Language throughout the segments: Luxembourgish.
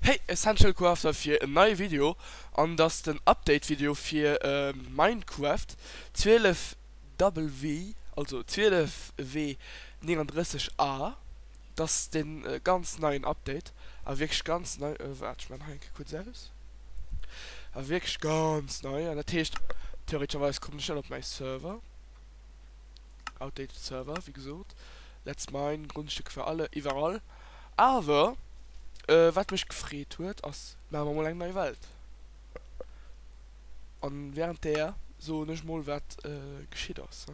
Hey Essential Crafter fir en neie Video an dass den Update Video fir Minecraft 12 Double V also 12 W 39 A dass den ganz neien Update a wierklech ganz nei waart ech man hei enke kuerz aus a wierklech ganz nei an dat heescht theoreetescherweis kommt en net op mäi Server. Outdated Server, wéi gesot. Let's mine, Grondstücke für alle, iwwerall. Awer, äh, wat mech gefreet huet, ass, maache mer mol eng nei Welt. A während där soen ech mol, wat äh, geschitt ass.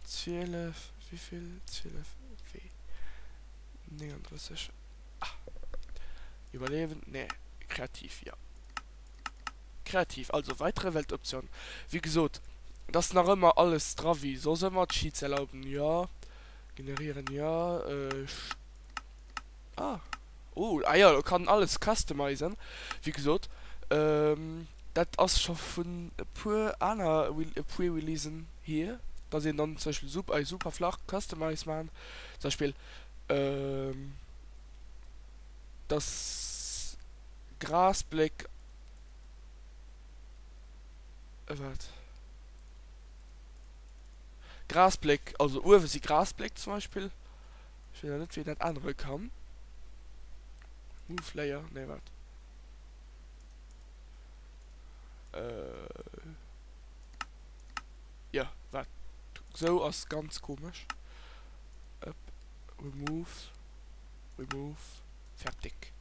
12, wivill? 12, wee? 39, ah. Iwwerliewen? Nee, kreativ, jo. Kreativ, also weitere Weltoption. Wéi gesot, et ass nach ëmmer alles dra wéi soss ëmmer, Cheats erlauben, jo, generieren, jo, ah, oh, ah jo, e kann alles customizen, wéi gesot, dat ass scho vun e puer aner Pre-Releasen hier, dass een dann zum Beispill sup ei super flach customize maachen, zum Beispill, dass Grass Bléck also uewe si Grass Bléck zum Beispill ech weess awer net wéi een dat ännere kann Move Layer nee wat jo wat sou ass ganz komesch Remove Remove. Fertig.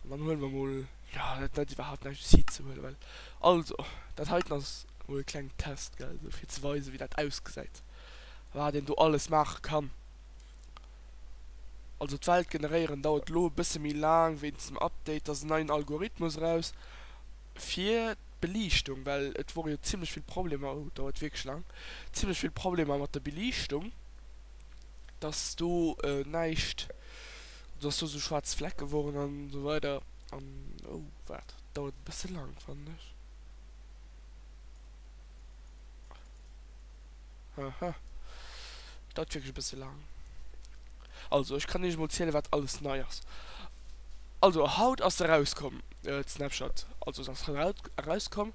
An dann huele mer mol, jo dat huet iwwerhaapt näischt si ze huelen, well also dat heiten ass mol e klengen Test gell, esou fir ze weisen wéi dat ausgesäit, wat een do alles maache kann. Also d'Welt generéieren dauert elo e bësse méi laang wéinst dem Update, da ass en neien Algorithmus eraus fir d'Beliichtung, well et wore jo zimmlech vill Problemer, oh dauert wierklech laang, zimmlech vill Problemer mat der Beliichtung. dass do näischt, dass do esou schwaarz Flecke woren an esou weider an. Oh waart, dauert e bësse laang fannen ech. Aha, dauert wierklech e bësse laang. Also ech kann iech mol ziele wat alles nei ass. Also haut ass erauskomm d'Snapchat, also se ass haut erauskomm.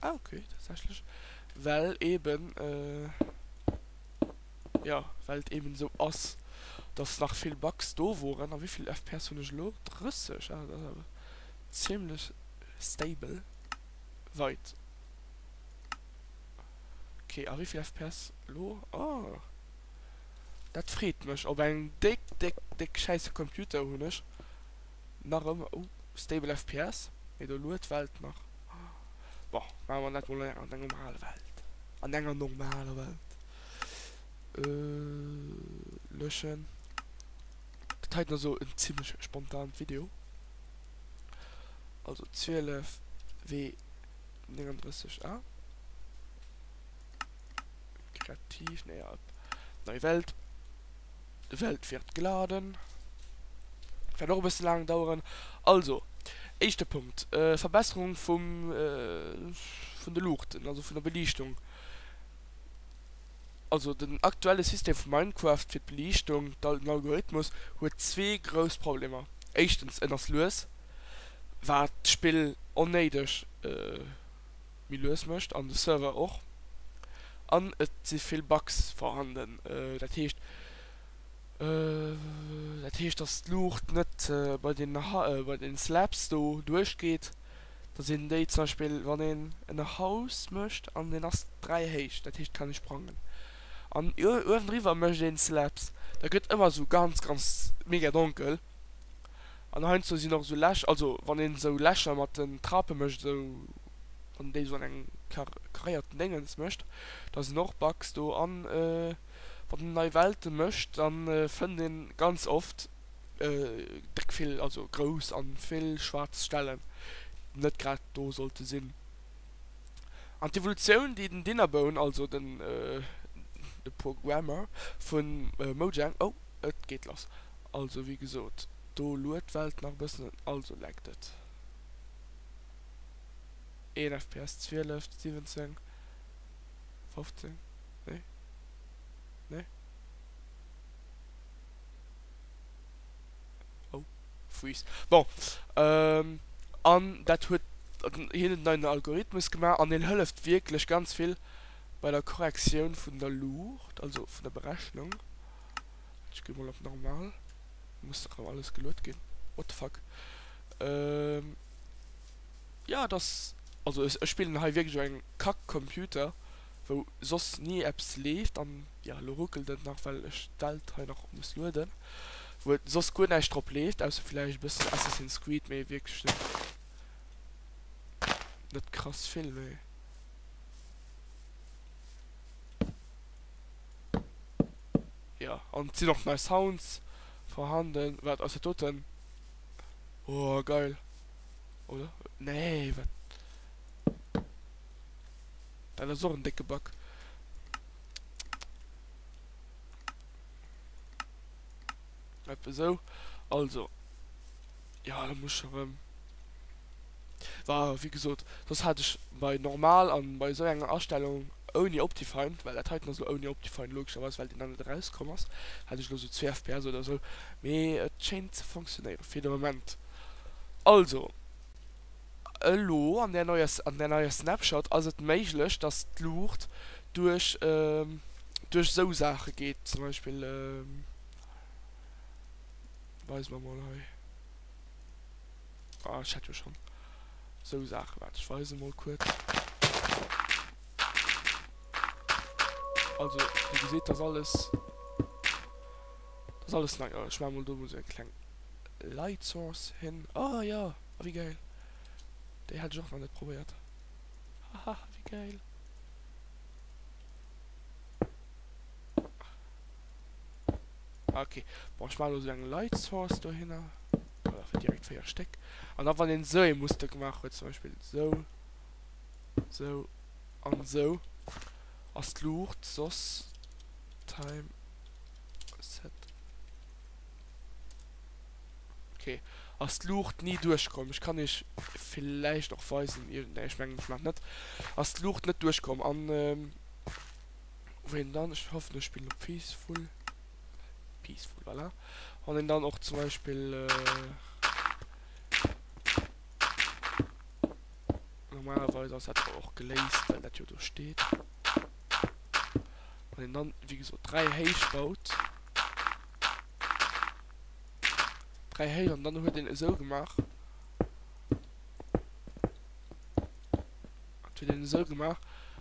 Ah, okay, tatsächlich. Well eben, äh, ja, well et eben so ass, dass nach vill Bugs do waren. A wéivill FPS hunn ech elo? 30? Ah, dat ass awer ziemlech stable. Wait. Okay, a wéivill FPS elo? Oh. Dat freet mech. Op engem déck, déck, déck schäisse Computer hunn ech. nach ëmmer, oh, stable FPS, mee do luet d'Welt nach. Bon, maache mer dat mol an enger normaler Welt, an enger normaler Welt. Löschen. Dat hei war sou en zimlech spontant Video. Also 12 W 39 A. Kreativ, nee, op nei Welt. well d'wiert gladen wäert och e bësse laang daueren. Also, éischte Punkt, Verbesserung vum, vun de Luuchten, also vun der Beliichtung. Also den aktuelle System vu Minecraft fir d'Beliichtung, den Algorithmus, huet zwee grouss Problemer, éischtens, en ass lues, wat d'Spill onnéideg, méi lues mécht an de Server och an et si vill Bugs vorhanden. Dat heescht, dat heescht, dass d'Luucht net bei den bei den Slabs do duerchgeet, dass een déi zum Beispill, wann een en Haus mécht an deen ass dräi héich, dat heescht kann e sprangen an uewendriwwer mécht een Slabs, da gëtt ëmmer esou ganz, ganz mega donkel. An heiansdo sinn och esou Läch, also wann een esou Lächer mat den Trape mécht, esou wann déi esou an engem karéierten Déngens mécht, da sinn och Bugs do. A wann een nei Welte mécht, da fënnt ee ganz oft déck vill, also grouss a vill schwaarz Stellen, déi net grad do sollte sinn. An d'Evolutioun, déi den Dinnerbone, also den de Programmer vu Mojang, oh et geet lass! Also wéi gesot, do luet d'Welt nach e bëssen un, also leckt et. Een fps 12, 17, 15, nee, nee, oh, freeze, bon, an dat huet hien en neien Algorithmus gemaach an deen hëlleft wierklech ganz vill bei der Korrektioun vun der Luucht, also vun der Berechnung. Ech gi mol op normal, muss dach awer alles geluet ginn, what the fuck. Ehm jo et ass, also ech spillen hei wierklech op engem kack Computer wou soss ni eppes leeft an jo elo ruckelt et nach well ech d'Welt hei nach muss lueden, wou et soss guer näischt drop leeft ausser villäicht e bëssen Assassin's Creed mee wierklech net net krass vill méi. Jo an et sinn och nei Sounds vorhanden. Waart ass dat doten? Oh geil oder nee wat dat ass och en décke Back. Etwa sou also. Jo elo muss ech erëm. War wéi gesot soss hat ech bei normal an bei esou enger Astellung ouni Optifind, well dat heiten ass elo ouni Optifind logescherweis well deen dann net erauskomm ass, hat ech elo sou zwee FPS oder sou, mee et schéint ze funktionéieren fir de Moment. Also elo an där neier an där neier Snapshot ass et méiglech dass d'Luucht duerch duerch esou Saache geet zum Beispill. Weis mer mol hei. Ah, ech hat jo schon sou Saachen. Waart, ech weisen mol kuerz. Also, wéi geseet, dass alles, dass alles nei. Ech maan mol do mol sou eng kleng Light Source hin. Ah jo, ah wéi geil. Déi hat ech och nach net probéiert. Haha, wéi geil. Okay. Bon, ich mache nur so lange Light Source da hin. Oder für direkt vier Stück. Und dann, wenn den so ein Muster gemacht wird, zum Beispiel so, so und so, als die Lucht, sos, Time, Set. Okay. Als die Lucht nie durchkommen. Ich kann euch vielleicht auch weisen, irgendein, ich meine, ich mache nicht. Als die Lucht nicht durchkommen. Und, ähm, wou een dann, ech hoffen ech spillen op peaceful, peaceful voilà, wann een dann och zum Beispill normalerweis ass dat awer och geléist, well dat jo do steet, wann een dann wéi gesot 3 héich baut, 3 héich an dann huet een esou gemaach. An huet en esou gemaach,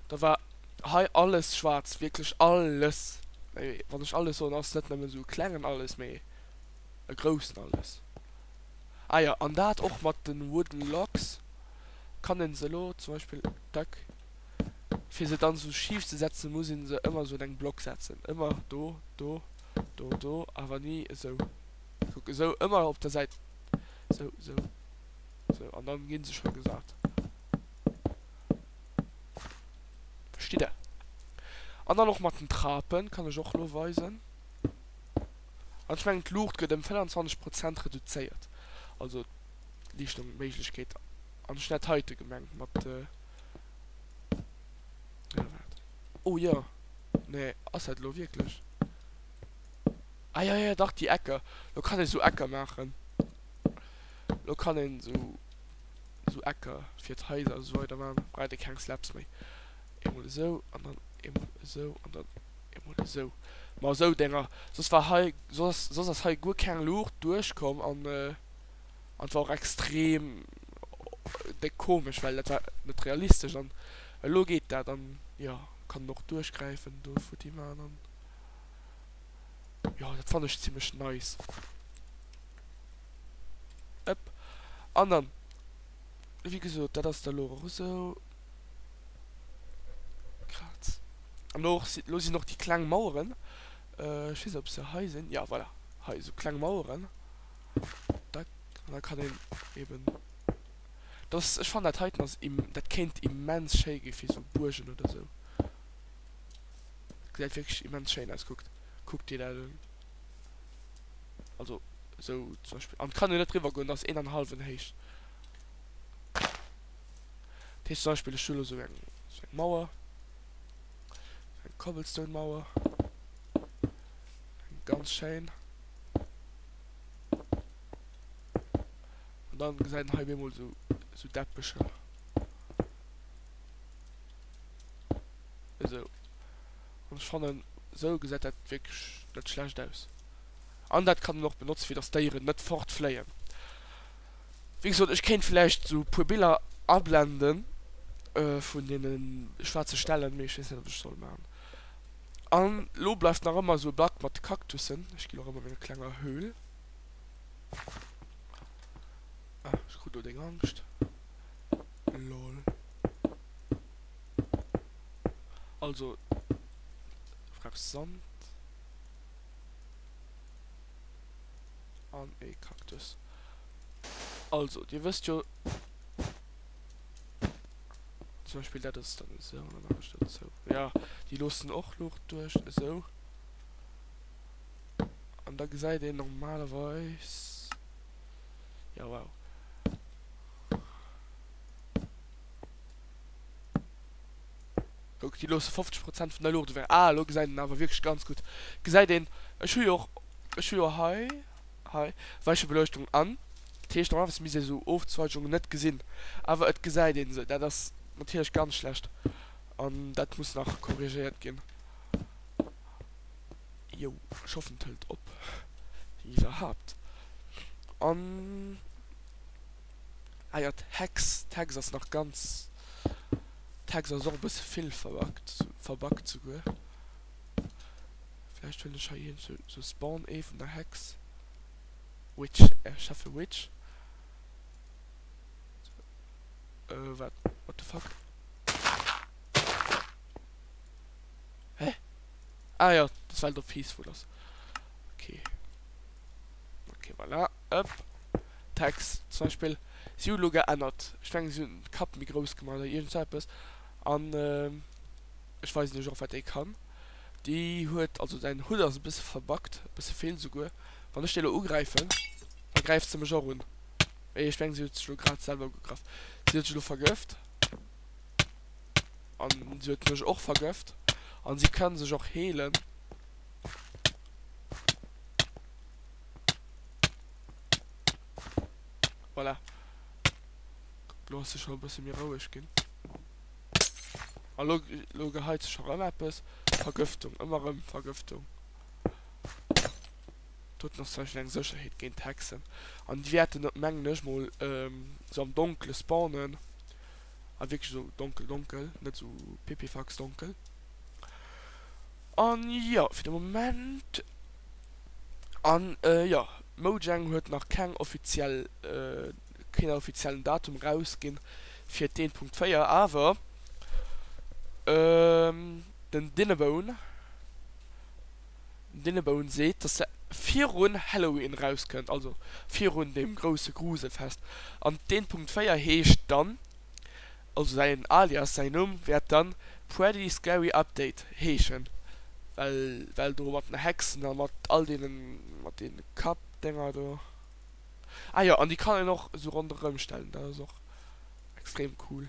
da war hei alles schwaarz, wierklech alles. Mee wann ech alles soen, ass net nëmmen esou e klengen alles, mee e groussen alles. Ah jo, an dat och mat de Wooden Logs kann een se elo zum Beispill, dac, fir se dann esou schif ze setzen, muss een se ëmmer esou un eng Block setzen, ëmmer do, do, do, do, awer ni esou. Kuck, esou, ëmmer op der Säit, esou, esou. So, an dann gin se schon gesat. Verstitt der? An dann och mat den Trapen, kann ech och lo weisen. An ech mengen d'Luucht get em 25 Prozent reduzéiert, also d'Liichtung, Méiglechkeet. An ech hun dat heite gemengt mat jo waart, oh jo, nee ass dat lo wierklech? Ah jo jo dach déi Ecker, lo kann ee sou Ecker maachen. Lo kann een esou esou Ecker fir d'Haiser esou weider man, da braucht ee keng Slabs méi. Eemol esou an dann eemol esou an dann eemol esou. Ma esou Dénger, soss war hei soss ass soss ass hei guer keng Luucht duerch komm an an war och extrem déck komesch, well dat war net realistesch an elo geet dat an jo kann en och duerchgräifen do futti man an. Jo, dat fannen ech zimlech nice. Ëpp. An dann, wéi gesot, dat ass da elo och esou. Grad. An elo och si, elo sinn och déi kleng Maueren, ech weess net ob se hei sinn, jo voilà, hei esou kleng Maueren. Dack. An da kann een eeben, dass, ech fannen dat heiten ass im, dat kéint immens schéi gi fir esou Buergen oder esou. Gesäit wierklech immens schéin aus, kuckt. Kuck dir dat un. Also esou zum Beispill. An kann jo net driwwer goen, dat ass een an e hallwen héich. Dat heescht zum Beispill ech hu elo esou eng esou eng Mauer. Eng Cobblestone Mauer. Eng ganz schéin. An dann gesäit en hei bemol esou esou Deppecher. Esou. An ech fannen, esou gesäit dat wierklech net schlecht aus. An dat kann een och benotzen, fir datt d'Déieren net fortfléien. Wéi gesot, ech kéint vläicht esou e puer Biller ablenden vun deene schwaarze Stellen, mee ech weess net, ob ech et soll maachen. An elo bleift nach ëmmer esou e Blatt mat de Kaktussen. Ech ginn nach ëmmer menger klenger Höhl. Ah, ech krut elo deng Angscht. Lol. Also Fraps Sand an e Cactus. Also dir wësst jo zum Beispiel dat ass dann esou an dann maachen ech dat esou. Ja déi loossen och Luucht duerch esou. An da gesäit een normalerweis. Jo wow. Kuck déi loosse 50 Prozent vun der Luucht ewech. Ah elo gesäit een awer wierklech ganz gutt. Gesäit een, ech hu jo och, ech hu jo hei, hei, Weichebeleuchtung an. Dat heescht normalerweis misst ee sou Ofzweigunge net gesinn. Awer et gesäit een se. Dat ass natierlech ganz schlecht. An dat muss nach korrigéiert ginn. Jo, ech hoffen et hëlt op, wann iwwerhaapt. An, ah jo, d'Hex, d'Hex ass nach ganz, d'Hex ass och e bësse vill verbuggt, verbuggt souguer. Vläicht hunn ech hei iergendwou esou Spawn Ee vun der Hex. Witch, ech schaffe Witch. Wat, what the fuck? Hä? Ah jo, dass well do peaceful ass. Ok. Ok voilà, ëpp. Text zum Beispill, si hu lo geännert. Ech mengen si hunn d'Kap méi grouss gemaach oder iergend sou eppes. An ech weisen iech och wat ee kann. Déi huet, also säin Hutt ass e bësse verbuggt, e bësse vill souguer. Wann ech déi elo ugräifen, da gräift se mech och un. Wéi ech mengen si huet sech lo grad selwer ugegraff. Si huet sech elo vergëft. An si huet mech och vergëft. An si kann sech och heelen. Voilà. Lo ass se scho e bësse méi roueg ginn. A lo, lo geheit se scho rëm eppes. Vergëftung, ëmmer rëm Vergëftung. Do huet en och zum Beispill eng Sécherheet géint d'Hexen. An déi wäerten, mengen ech mol, sou am Donkele spawnen. a wierklech esou donkel donkel, net esou pipifax donkel. An jo, fir de Moment, an jo, Mojang huet nach keng offiziell, keen offiziellen Datum erausginn fir d'Een Punkt 4, awer den Dinebone. Dennebourn seet, datt se virun Halloween erauskënnt, also virun deem grousse Gruselfest. An den Punkt 4 heescht dann, also säin Alias, säin Numm wäert dann Pretty Scary Update heeschen, well well do mat den Hexen a mat all deenen, mat deene Kappdenger do. Ah jo, an déi kann een och esou ronderëm stellen, dat ass och extrem cool.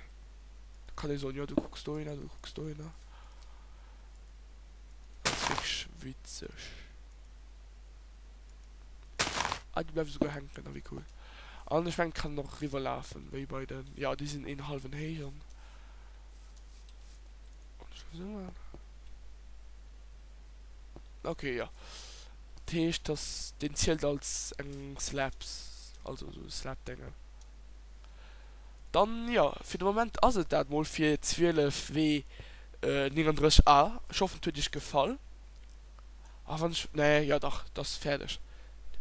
Da kann ee soen, jo du kucks dohinner, du kucks dohinner. Ass wierklech witzeg. Ah, déi bleiwen souguer hänken, ah wéi cool. An ech mengen et kann och riwwer lafen, wéi bei den, jo déi sinn een halwen héich an an ech muss ëmmer ok jo. Dat heescht dass deen zielt als eng Slaps, also sou Slap Déngen. Dann, jo, fir de Moment ass et dat mol fir 12 W 39 A. Ech hoffen et huet iech gefall. A wann ech, nee, jo dach, et ass fäerdeg.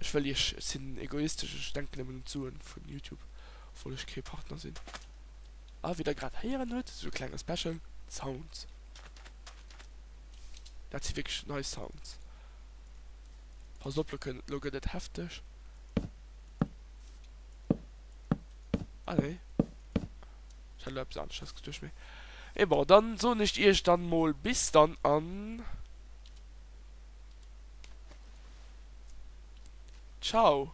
Ech wëll iech, ech sinn egoistesch, ech denken nëmmen un d'Sue vun Youtube, obwuel ech kee Partner sinn. A wéi der grad héieren hutt, esou e klenge Special, d'Sounds, dat si wierklech nei Sounds. Passt op, lo gëtt et hefteg. Ah nee. Ich hatte etwas anderes gedacht, mir. Et bon, dann so nicht ihr dann mal bis dann an. Ciao.